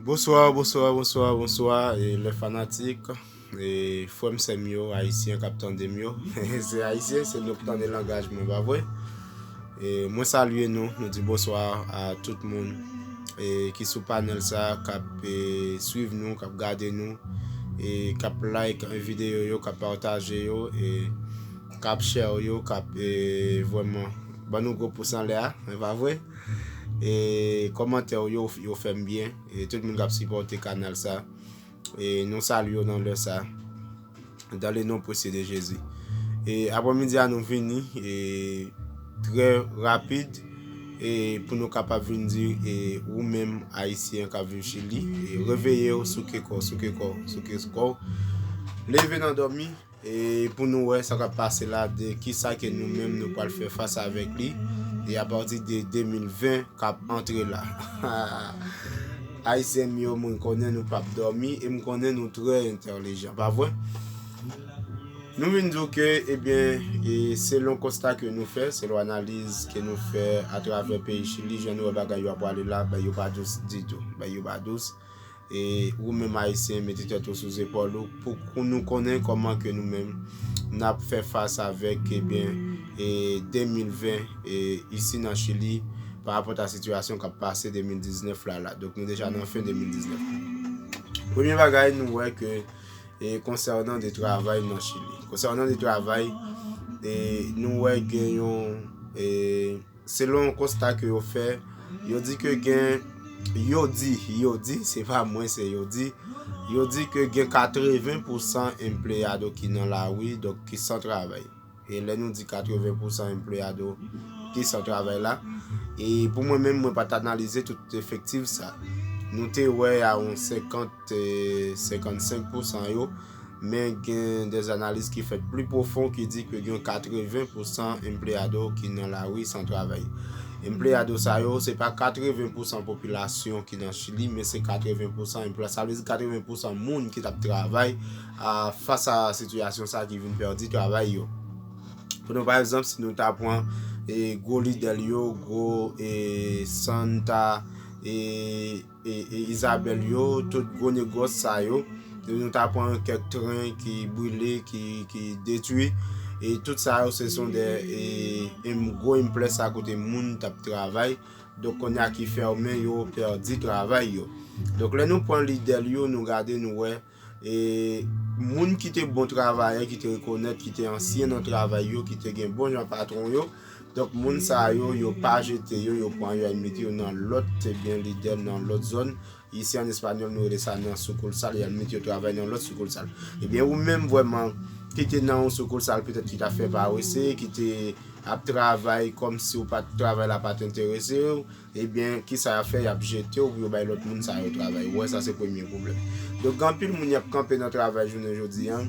Bonsoir bonsoir bonsoir bonsoir les fanatiques frè m sè m yo ayisyen kap tande m yo se ayisyen se nou ki tande langaj mwen pa vre mwen salye nou mwen di bonsoir a tout moun ki sou panel sa kap swiv nou kap gade nou kap like videyo yo kap pataje yo kap share yo kap vreman ban nou gwo pous anlè a pa vre E kòmantè w yo yo fèm byen e tout moun kap sipòte kanal sa e nou salye w nan lè sa dan le non presye de Jezi e apre midi a nou vini e trè rapid e pou nou kapab vin di e ou menm ayisyen kap viv chili e reveye w souke kò souke kò souke kò leve nan dòmi E pou nou wè sa kap pase la de kisa ke nou menm nou pral fè fas avèk li e apati de 2020 kap antre la. Ayisyen m yo mwen konnen nou pap dòmi e m konnen nou trè entèlijan pa vre? Nou vin di w ke ebyen e selon konsta ke nou fè, selon analiz ke nou fè atravè peyi Chili jan nou wè bagay yo ap prale la, bagay yo pa dous ditou. Bagay yo pa dous. E ou menm Ayisyen mete tèt ou sou zepòl ou pou nou konnen kòman ke nou menm n ap fè fas avèk ebyen 2020 isi nan Chili pa rapòt a sitiyasyon k ap pase 2019 la la. Donk nou deja nan fen 2019. Premye bagay nou wè ke e konsènan de travay nan Chili. Konsènan de travay e nou wè gen yon e. Selon yon konsta ke yo fè, yo di ke gen, yo di, yo di, se pa mwen se yo di, yo di ke gen 80 pou san empleyado ki nan la wi, donk ki san travay. E lè nou di 80 pou san empleyado ki san travay la, e pou mwen menm mwen pa ta analize tout efektif sa. Nou te wè a yon 50, 55 pou san yo, Men gen des analiz ki fèt pli pwofon ki di ke gen 80 pou san empleyado ki nan lari san travay. Empleyado sa yo, se pa 80 pou san popilasyon ki nan Chili, men se 80 pou san emplwa, sa vle di 80 pou san moun ki tap travay a fas a sitiyasyon sa ki vin pèdi travay yo. Pou nou pa egzanp, si nou ta pwan e gwo lidèl yo, gwo e santa e. e Isabelle yo tout gwo negòs sa yo e nou ta pran kèk tren ki brile ki detwi e tout sa yo se son de e gwo enplè sa kote moun tap travay donk konya ki fèmen yo pèdi travay yo donk lè nou pran lide l yo nou gade nou wè E moun ki te bon travayè, ki te rekonèt, ki te ansyen nan travay yo, ki te gen bon jan patwon yo, donk moun sa yo, yo pa jete yo, yo pran yo al mete yo nan lòt ebyen lidè, nan lòt zòn, isi an espanyòl nou rele sa nan soukoulsal, y al mete yo travay nan lòt soukoulsal. Ebyen ou menm vrèman ki te nan yon soukoulsal petèt ki ta fè parese, ki te ap travay kòmsi ou pa t travay la pa t enterese w, Ebyen kisa yap fè yap jetew pou yo bay lòt moun sa yo travay ou wè sa se premye pwoblèm donk gen anpil moun yap kanpe nan travay jounen jodi an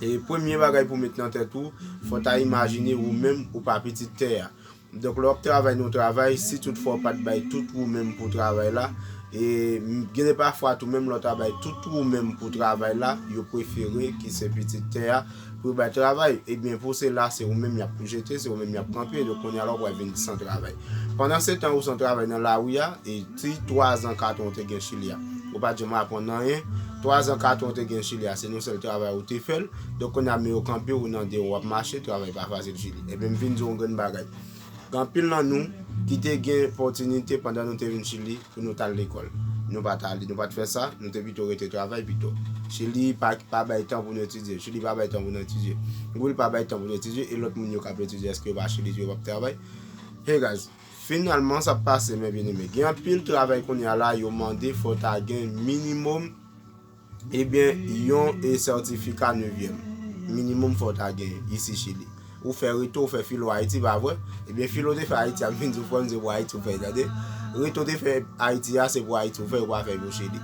e premye bagay pou met nan tèt ou fò ta imajine ou menm ou pa pitit tè a donk lè wap travay nan yon travay si tout fwa ou pat bay tout ou menm pou travay la e gen de pafwa tou menm lè ou ta bay tout ou menm pou travay la yo prefere ki se pitit tè a Pou yo bay travay, ebyen pou se la se ou menm y ap jete, se ou menm y ap kanpe, donk kounye a la ou pral vin san travay. Pandansetan ou san travay nan lari a, e ti twazan katran ou te gen Chili a, ou pa t janm aprann anyen, twazan katran ou te gen Chili a se yon sèl travay ou te fè l, donk kounye a men yo kanpe ou nan de ou ap mache, travay pa fasil Chili. Ebyen m vin di w yon grenn bagay. Gen anpil nan nou ki te gen pòtinite pandan nou te vin Chili pou nou t al lekòl. Nou pa t ale, nou pa t fè sa, nou te pito rete travay pito. Chili pa bay tan pou nou etidye. Chili pa bay tan pou nou etidye. Will pa bay tan pou nou etidye. E lòt moun yo k ap etidye, èske yo pa Chili tou, yo pa p travay? Hey guys, finalman sa p pase men byeneme. Gen anpil travay kounye a la yo mande fò w ta gen minimòm. Ebyen yon sètifika nevyèm minimum fòw ta gen isi chili ou fè reto ou fè filo ayiti pa vre ebyen filo te fè ayiti a vin diw frèm se pou ayiti ou fèl tande reto te fè ayiti a se pou ayiti ou fèl ou pa fè pou chili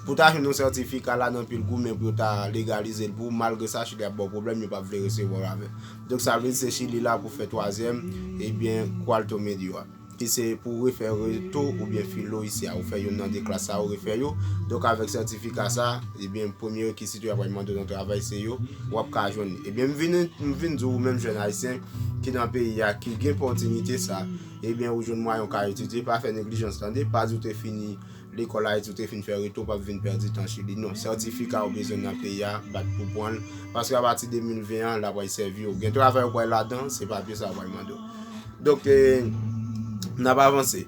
pou ta jwenn yon sètifika la nan pil goumen pou yo ta legalizel pou ou malgre sa chili ap baw pwoblèm yo pap vle resevwaw avèl donk sa vle di se chili la pou fè twazyèm ebyen qualto medio a. Ki se pou ou refè reto oubyen filo isi a. Ou fè youn nan 2 klas sa a, ou refè yo. Donk avèk sètifika sa a, ebyen premye rekisit yo y ap pral mande w nan travay se yo, w ap ka jwenn li. Ebyen m vin m vin di w ou menm jèn ayisyen ki nan peyi a, ki gen pòtinite sa a, ebyen ou jwenn mwayen ou ka etidye, pa fè neglijans tande, pa di w te fini. Lekòl Ayiti ou te fin fè rete ou pap vin pèdi tan su li non sètifika ou bezwen nan peyi a bat pou pranl paske apati 2020 an la pral sèvi ou gen travay ou pral ladan se papye sa yo pral mande ou donk nap avanse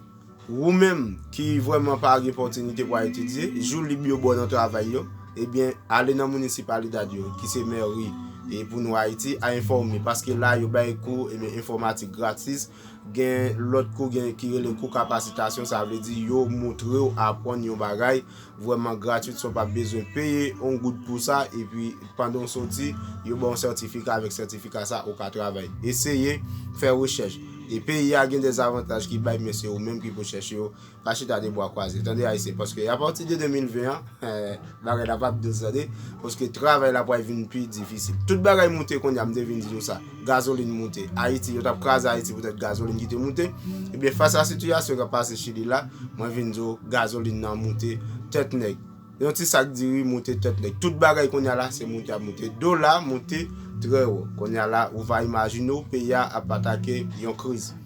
ou menm ki vrèman pa gen pòtinite pou al etidye jou lib yo baw nan travay yo ebyen ale nan municipalidad yo ki se mèri e pou nou Ayiti a enfòme paske la yo bay kou ebyen enfòmatik gratis Gen lòt kou gen ki rele kou kapasitasyon sa vle di yo moutrew apwann yon bagay vrèman gratwit san w pa bezwen peye yon goud pou sa epi pandan w soti yo baw yon sètifika avèk sètifika sa ou ka travay eseye fè rechèch e peyi a gen de zavantaj ki bay men se ou menm ki pou chèche yo Pa chita de bwa kwaze tande ayisyen paske apati de 2020 an bagay la pap dous tande paske travay la pwal vin pi difisil tout bagay moute konnya m te vin di nou sa gazolin moute ayiti yo tap kraze ayiti poutèt gazolin ki te moute ebyen fas a sitiyasyon kap pase chili la mwen vin di w gazolin nan moute tèt nèg yon ti sak diri moute tèt nèg tout bagay konnya la se moute ap moute dola moute trè wo konnya la ou va imajine w peyi a ap atake yon kriz.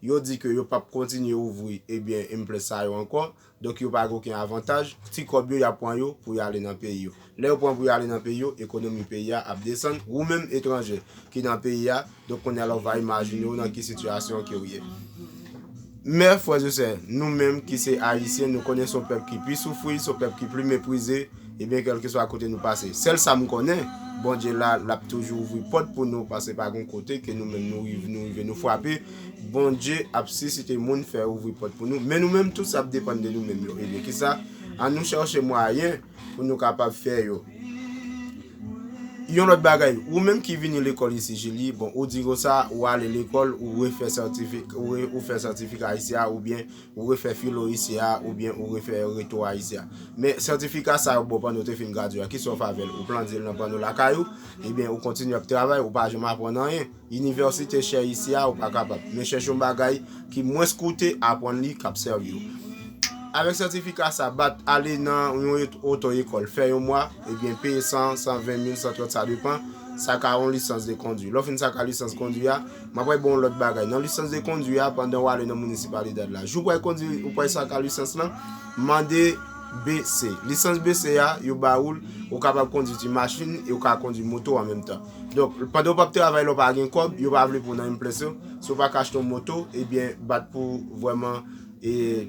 Yo di ke yo pap kontinye ouvri ebyen emplè sa yo ankò, donk yo pa gen oken avantaj, ti kòb yo yap pran yo pou yo ale nan peyi yo. Lè yo pran pou yo ale nan peyi yo, ekonomi peyi a ap desann, wou menm etranjè ki nan peyi a, donk kounye a la w va imajine w nan ki sitiyasyon ke w ye. Men frè e sè, nou menm ki se ayisyen nou konnen son pèp ki pi soufri, son pèp ki pli meprize, Ebyen kelkeswa kote nou pase sel sam konnen Bondye la lap toujou ouvri pot pou nou paske pa gon kote ke nou menm nou rive nou fwape Bondye ap sisite moun fè ouvri pot pou nou men nou menm tout sa ap depann de nou menm yo ebyen kisa an nou cherche mwayen pou nou kapab fè yo yon lot bagay ou menm ki vini lekol isi Julie bon ou di konsa ou ale lekol ou refè sètifika isi a oubyen Ou refè filo isi a oubyen ou refè reto a isi a. Men sètifika sa yo ba w pandan w te fin gradye a, kisa w fè avè l? Ou plande l nan panno lakay ou? Ebyen ou kontinye ap travay, ou pa janm aprann anyen. Inivèsite chè isi a, ou pa kapab. Men chèche yon bagay ki mwens koute, aprann li, k ap sèvi w. Avèk sètifika sa, bat ale nan yon oto ekòl, fè yon mwa, ebyen peye 100, 120 mil, 130 sa depan, sa ka yon lisans de kondwi. Lè w fin sa ka lisans kondwi a, M apral ba w yon lòt bagay. Nan lisans de kondwi a, pandan w ale nan Municipalidad la, jou w pral kondwi, ou pral sa ka lisans lan, mande BC. Lisans BC a, yo ba ou l, ou kapab kondwi ti machin e ou ka kondwi moto an menm tan. Donk, pandan ou p ap travay la ou pa gen kòb, yo pa vle pou w nan impreso, si w pa ka achte yon moto, ebyen bat pou vrèman e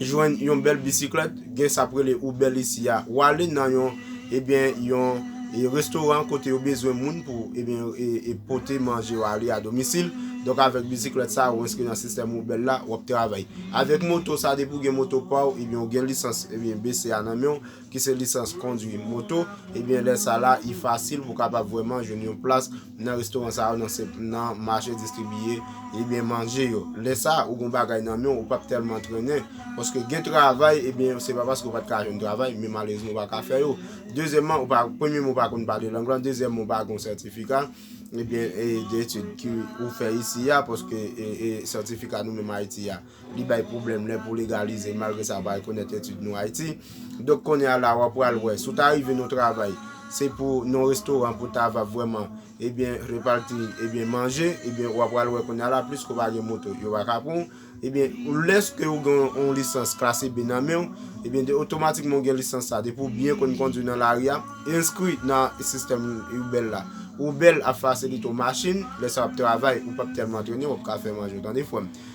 jwenn yon bèl bisiklèt gen sa ap rele Uber isi a ou ale nan yon ebyen yon restoran kote yo bezwen moun pou ebyen e pote manje yo ale a domisil donk avèk bisiklèt sa ou enskri nan sistèm Uber la wap travay avèk moto sa depi ou gen moto pa ou ebyen ou gen lisans ebyen BCA nan men ou ki se lisans kondwi moto ebyen lè sa la li fasil pou kapab vwèman jwenn yon plas Nan restoran sa yo nan se nan mache distribiye ebyen manje yo. Lè sa ou gon bagay nan menw ou pap tèlman trennen paske gen travay ebyen se pa paske ou pat ka jwenn travay men malerezman ou pa ka fè yo. Dezyèman ou pa premyèman ou pa konn pale lang lan dezyèman ou pa gon sètifika ebyen de etid ki ou fè isi a paske sètifika nou menm Ayiti a. Li bay pwoblèm lè pou legalize malgre sa pa rekonèt etid nou Ayiti. Donk kounye a la w ap pral wè. Si w ta rive nan yon travay, se pou nan yon restoran pou w ta va vrèman ebyen reparti ebyen manje, ebyen w ap pral wè kounye a la pliske w pa gen moto yo pa ka pran w. Ebyen lèske ou gen yon lisans klase B nan men w, ebyen de otomatikman ou gen lisans sa. Depi w byen konn kondwi nan lari a, enskri nan sistèm Uber la. Uber ap fasilite w machin, lè sa w ap travay ou p ap tèlman trennen, w ap ka fè manje w tande frè m.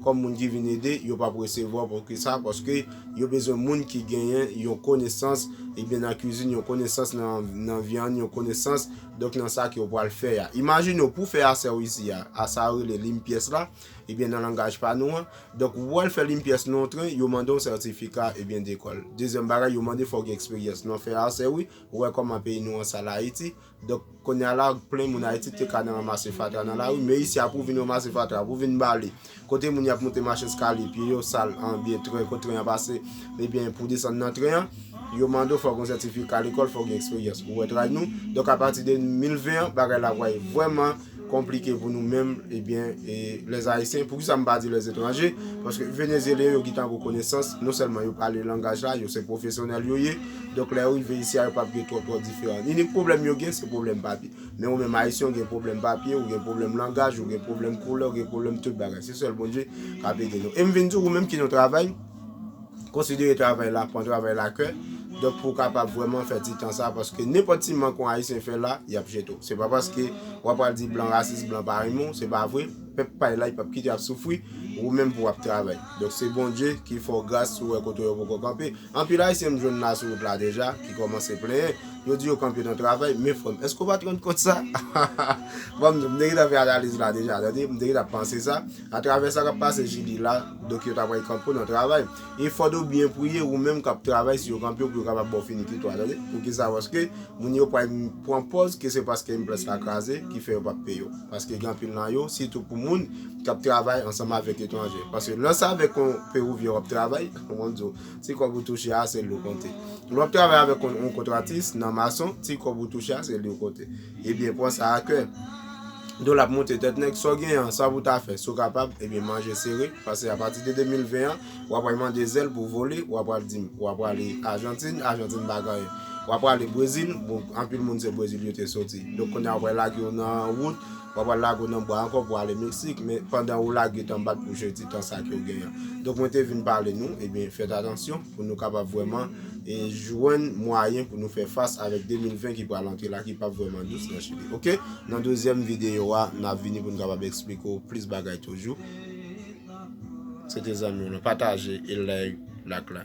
Kòm moun ki vin ede, yo pap resevwa pou ki sa? Paske yo bezwen moun ki genyen yon konesans ebyen nan kizin, yon konesans nan vyann, yon konesans donk nan sa ke yo pwal fè a. Imajine w pou fè asè w isi a, a sa yo rele limpyès la, ebyen nan langaj pa nou an, donk ou pwal fè limpyès nan yon tren, yo mande w sètifika ebyen dekòl. Dezyèm bagay yo mande fò w gen eksperyans nan fè asè wi, ou wè kòman peyi nou an sal Ayiti, Donk, kounye a la, plen moun Ayiti te ka nan ranmase fatra nan lari, men isi a pou w vin ranmase fatra, pou w vin bale, kote moun y ap monte machin eskalye, pye yo sal anbyen, tren, kot tren an pase, ebyen, pou w desann nan tren an, yo mande w fè w gen yon sètifika lekòl, fè w gen eksperyans. Ou wè tray nou? Donk, apati de 2020 an, bagay la va vrèman. konplike pou nou menm ebyen e les ayisyen poukisa m pa di les etranje paske venezyelyen yo gintan gou konesans non sèlman yo pale langaj la yo se pwofesyonèl yo ye donk lè yo rive isi a yo pap gen twòp twòp diferan inik pwoblèm yo gen se pwoblèm papye men ou menm ayisyen ou gen pwoblèm papye ou gen pwoblèm langaj ou gen pwoblèm koulè ou gen pwoblèm tout bagay se sèl Bondye kap ede nou e m vin di ou menm ki nan travay Konsidere travay la, pran travay la kè, donk pou w kapab vrèman fè ti tan sa a, paske nenpòt ti mank yon Ayisyen fè la, y ap jete w. Se pa paske w ap pral di blan rasis, blan pa renmen w, se pa vre, pèp pay la, y pap kite w ap soufri, ou menm pou w ap travay. Donk se Bondye ki fè w gras si w wè kote w yo poko kanpe. Anpil Ayisyen m jwenn la sou wout la deja, ki kòmanse plenyen, yo di yo kanpe nan travay, men frè m, èske w pa te rann kont sa? Bon, m te gentan fè analiz la deja, tande, m te gentan panse sa. Atravè sa kap pase JD la, donk yo ta pral kanpe w nan travay. E fòd ou byen priye ou menm kap travay si yo kanpe w pou yo kapab ba w finikitou a tande. Poukisa paske moun yo pral pran pòz ke se paske implant la kraze ki fè yo pap peye w. Paske gen anpil nan yo, sitou pou moun kap travay ansanm avèk etranje. Paske lè w se avèk yon Pewouvyen wap travay, map di w, ti kòb ou touche a se li yo konte. Lè wap travay avèk yon kontratis nan mason, ti kòb ou touche a se li yo konte. Ebyen pran sa a kè. Don lap moute tèt nèg, sa w genyen an, sa pou w ta fè, si w kapab, ebyen manje sere, pase apati de 2020 an, w apral mande zèl pou w vole, w apral di m, w aprale Ajantin, Ajantin pa gen anyen, w aprale Brezil, bon anpil moun se Brezil yo te soti, donk kounye a w apral lage yo nan wout, w apral lage yo nan bwa ankò pou ale Meksik, men pandan ou lage tan bat pou jete tan sa ke w genyen an. Donk mwen te vin pale nou, ebyen fèt atansyon. pou nou kapab vrèman jwenn mwayen pou nou fè fas avèk 2020 ki pral antre la ki pap vrèman dous nan chili ok nan dezyèm videyo a nap vini pou nou kapab eksplike ou plis bagay toujou se te zanmi ou lan pataje e like lak la.